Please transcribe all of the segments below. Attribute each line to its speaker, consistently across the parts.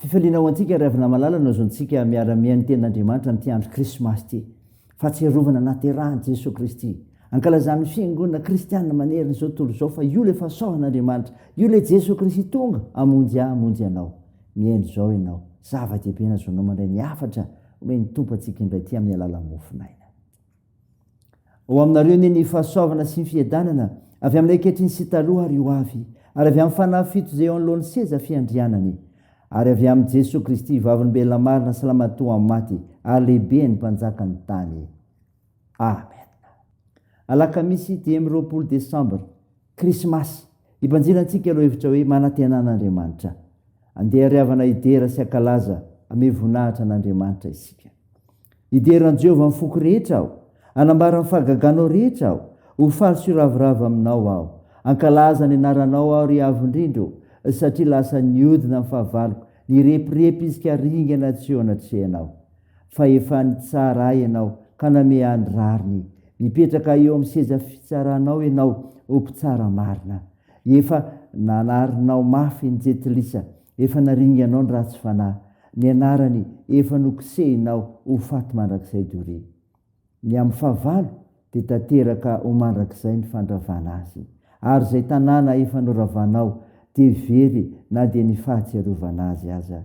Speaker 1: Fifaliana ho antsika ry havana malala no azontsika miara-mihaino ny tenin'Andriamanitra amin'ity andro krismasy ity. Fahatsiarovana naterahan'i Jesoa Kristy. Ankalazan'ny fiangonana kristianina manerana izao tontolo izao fa io ilay fahasoavan'Andriamanitra, io ilay Jesoa Kristy tonga hamonjy ahy hamonjy anao. Mihaino izao ianao. Zava-dehibe ny azonao mandray ny hafatra omen'ny Tompo antsika indray ity amin'ny alalan'ny mofon'aina. Ho aminareo anie ny fahasoavana sy ny fiadanana, avy aminay ankehitriny sy taloha ary ho avy, ary avy amin'ny fanahy fito izay eo anoloan'ny seza fiandrianany, ary avy amin'i Jesoa Kristy, Vavolombelona marina sy Lamatoa amin'ny maty ary Lehiben'ny mpanjakan'ny tany. Amen. Alakamisy dimy roapolo desambra Krismasy. Hibanjina antsika ireo hevitra hoe manantena an'Andriamanitra. Andeha hariavana hidera sy hankalaza ame voninahitra an'Andriamanitra isika. Hidera an'i Jehovah amin'ny foko rehetra aho. Hanambara ny fahagaganao rehetra aho. Ho faly sy hiravoravo aminao aho. Hankalaza ny anaranao aho, ry Avo indrindra ô, satria lasa niodina ny fahavaloko. Nirepirepy izy ka ringana tsy eo anatrehanao. fa efa nitsara ahy ianao ka nameaha ny rariny. Mipetraka eo amin'ny seza fitsaranao ianao, O Mpitsara marina. Efa nanarinao mafy ny jentilisa, efa naringanao ny ratsy fanahy. Ny anarany efa nokisehinao ho faty mandrakizay doria. Ny amin'ny fahavalo dia tanteraka ho mandrakizay ny fandravana azy. Ary izay tanàna efa noravanao dia very na dia ny fahatsiarovana azy aza.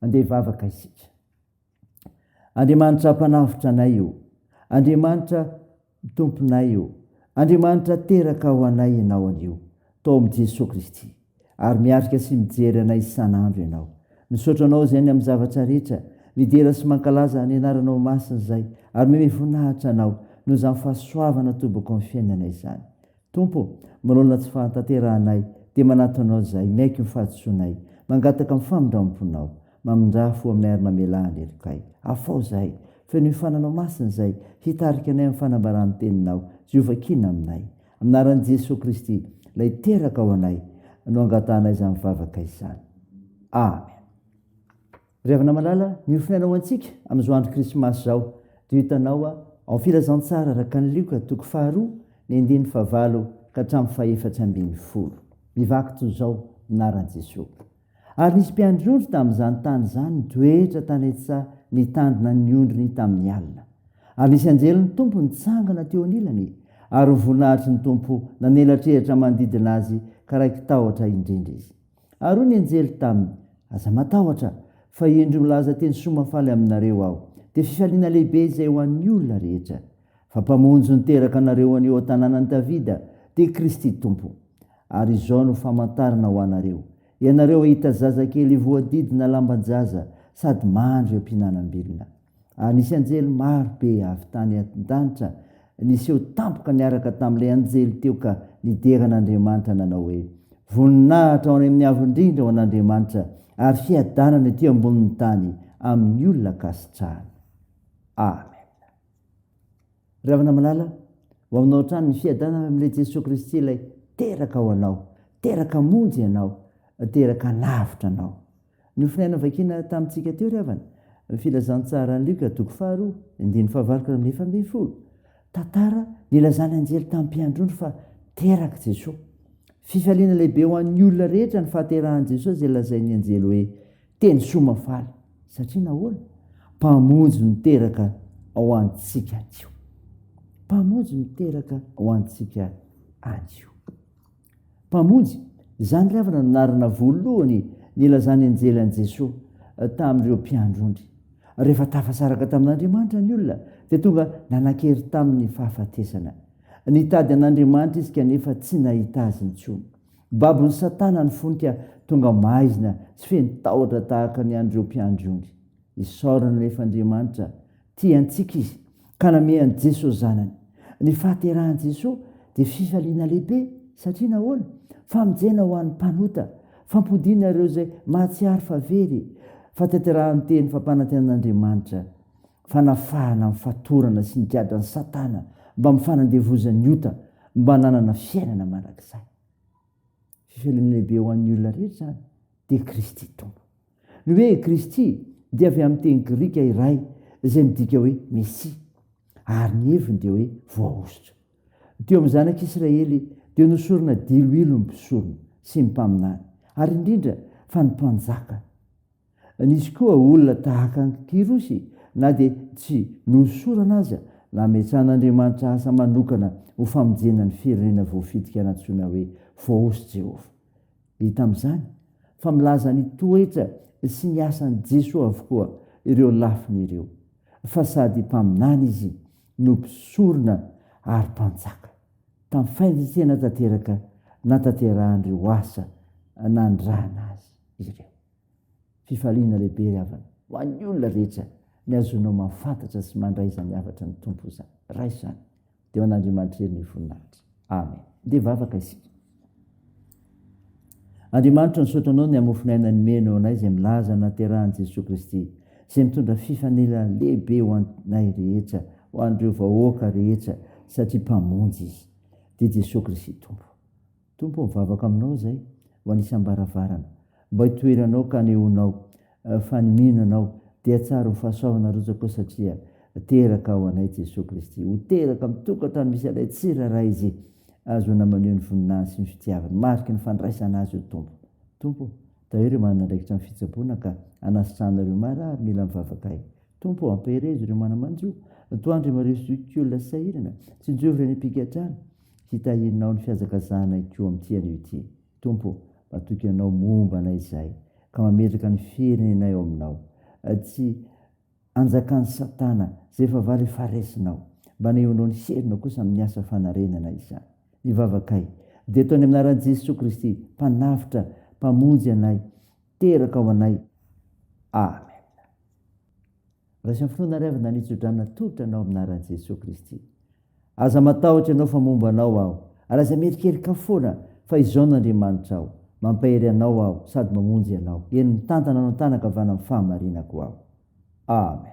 Speaker 1: Andeha hivavaka isika. Andriamanitra mpanavotra anay io. Andriamanitra tomponay io. Andriamanitra teraka ho anay ianao anio. Tao amin'i Jesoa Kristy. Ary miarika sy mijery anay isan'andro ianao. Misaotra anao izay ny amin'ny zavatra rehetra. Midera sy mankalaza ny anaranao masina izay ary mihomehy voninahitra anao noho izany fahasoavana atobako amin'ny fiainanay izany. Tompo ô, manoloana tsy fahatanterahanay dia manatona anao izay miaiky ny fahadisoanay, mangataka ny famindramponao. Mamindrà fo aminay ary mamelà ny helokay. Afao izahay. Feno io fananao masina izay hitarika anay amin'ny fanambaràn'ny teninao. Jehovah kiana aminay. Amin'ny anaran'i Jesoa Kristy, Ilay teraka ao anay, no angatahanay izany vavaka izany. Amen. Ry havana malala, ny ho fiainana ho antsika amin'izao andro krismasy izao dia hitanao ao amin'ny filazantsara araka ny Lioka toko faharoa ny andininy fahavalo ka hatramin'ny fahefatra ambin'ny folo. Mivaky toy izao ny anaran'i Jesoa. Ary nisy mpiandry ondry tamin'izany tany izany nitoetra tany an-tsaha nitandrina ny ondriny tamin'ny alina. Ary nisy anjelin'ny Tompo nitsangana teo anilany, ary ny voninahitry ny Tompo nanelatrelatra manodidina azy ka raiki-tahotra indrindra izy. Ary hoy ny anjely taminy, Aza matahotra, fa indro milaza teny soa mahafaly aminareo aho, dia fifaliana lehibe izay ho an'ny olona rehetra. Fa Mpamonjy niteraka anareo anio ao tanànan'i Davida, dia Kristy Tompo. Ary izao no famantarana ho anareo, Ianareo hahita zazakely voadidina lamban-jaza sady mandry eo am-pihinanam-bilona. Ary nisy anjely maro be avy tany an-danitra niseho tampoka niaraka tamin'ilay anjely teo ka nidera an'Andriamanitra nanao hoe, Voninahitra ho any amin'ny Avo Indrindra ho an'Andriamanitra, ary fiadanana ety ambonin'ny tany amin'ny olona ankasitrahany. Amena. Ry havana malala, ho aminao hatrany ny fiadanana avy amin'ilay Jesoa Kristy ilay teraka ho anao, teraka hamonjy anao, teraka hanavotra anao. Ny nofinahy novakina tamintsika teo ry havana, ny filazantsaran'i Lioka toko faharoa, andininy fahavalo ka hatramin'ny efa ambin'ny folo. Tantara nilazan'ny anjely tamin'ny mpiandrony fa terak'i Jesoa. Fifaliana lehibe ho an'ny olona rehetra ny fahaterahan'i Jesoa izay lazain'ny anjely hoe, Teny soa mahafaly satria nahoana? Mpamonjy miteraka ao antsika anio. Mpamonjy miteraka ao antsika anio. Mpamonjy, izany ry havana no anarana voalohany nilazan'ny anjely an'i Jesoa tamin'ireo mpiandrony. Rehefa tafasaraka tamin'Andriamanitra ny olona dia tonga nanan-kery tamin'ny fahafatesana. Nitady an'Andriamanitra izy kanefa tsy nahita Azy intsony. Babon'i Satana ny fony ka tonga maizina sy feno tahotra tahaka ny an'ireo mpiandry ondry. Isaorana anefa Andriamanitra, tia antsika Izy ka namehy an'i Jesoa Zanany. Ny fahaterahan'i Jesoa dia fifaliana lehibe, satria nahoana? Famonjena ho an'ny mpanota, fampodiana ireo izay mahatsiaro fa very, fatanterahany teny fampanantenan'Andriamanitra. fanafahana amin'ny fatorana sy ny gadran'i Satana mba amin'ny fanandevozan'ny ota mba hananana fiainana mandrakizay. Fivelomana lehibe ho an'ny olona rehetra izany dia Kristy Tompo. Ny hoe Kristy dia avy amin'ny teny grika iray izay midika hoe Mesia ary ny heviny dia hoe voahosotra. Teo amin'ny zanak'Israely dia nosorona diloilo ny mpisorona sy ny mpaminany ary indrindra fa ny mpanjaka Nisy koa olona tahaka an'i Kyrosy, na dia tsy nohosorana aza, nametsahan'Andriamanitra asa manokana ho famonjena ny firenena voafitika nantsoina hoe Voahosy Jehovah. Hita amin'izany fa milaza ny toetra sy ny asan'i Jesoa avokoa ireo lafiny ireo, fa sady Mpaminany izy no Mpisorona ary Mpanjaka. Tamin'ny fahendren-tena tanteraka nahatanterahan'ireo asa nanirahana azy ireo. Fifaliana lehibe ry havana, ho an'ny olona rehetra, ny hahazoanao mahafantatra sy mandray izany hafatry ny Tompo izany. Raha izany, dia ho an'Andriamanitra irery ny voninahitra. Amen. Andeha hivavaka isika. Andriamanitra, misaotra Anao ny hamofon'aina nomeny ho anay izay milaza ny naterahan'i Jesoa Kristy, izay mitondra fifanila lehibe ho anay rehetra, ho an'ireo vahoaka rehetra, satria Mpamonjy Izy. Dia Jesoa Kristy Tompo. Tompo ô, mivavaka Aminao izay ho an'ny isam-baravarana, mba hitoeranao ka hanehoanao fa ny mino Anao dia tsara ho fahasoavana rotsakao satria teraka ao anay Jesoa Kristy. Ho teraka amin'ny tokantrano misy Anay tsirairay Izy, ahazoana maneho ny voninahiny sy ny fitiavany, mariky ny fandraisana Azy io Tompo. Tompo ô, tahio ireo manana andraikitra amin'ny fitsaboana ka hanasitrahanao ireo marary mila mivavaka Ahy. Tompo ô, ampaherezo ireo manamanjo, antoandro imareho sy hoy olona sahirana, tsinjovo ireny mpigadrano, hitahianao ny fihazakazahanay koa amin'ity anio ity. Tompo ô, matoky Anao momba anay izahay, ka mametraka ny firenenay ao Aminao, tsy anjakan'i Satana, izay efa vale fa raisinao. Mba anehoanao ny herinao kosa amin'ny asa fanarenana izany. Ny vavakay, dia atao any amin'ny anaran'i Jesoa Kristy, Mpanavotra, Mpamonjy anay, teraka ao anay. Amen. Raiso amin'ny finoana ary avy na ny hitsodrana tolotra anao amin'ny anaran'i Jesoa Kristy. Aza matahotra ianao fa momba anao aho, ary aza mierikerika foana fa izao no Andriamanitra aho, mampahery anao aho sady mamonjy anao, eny mitantana anao an-tàna ankavanan'ny fahamarinako aho. Amen.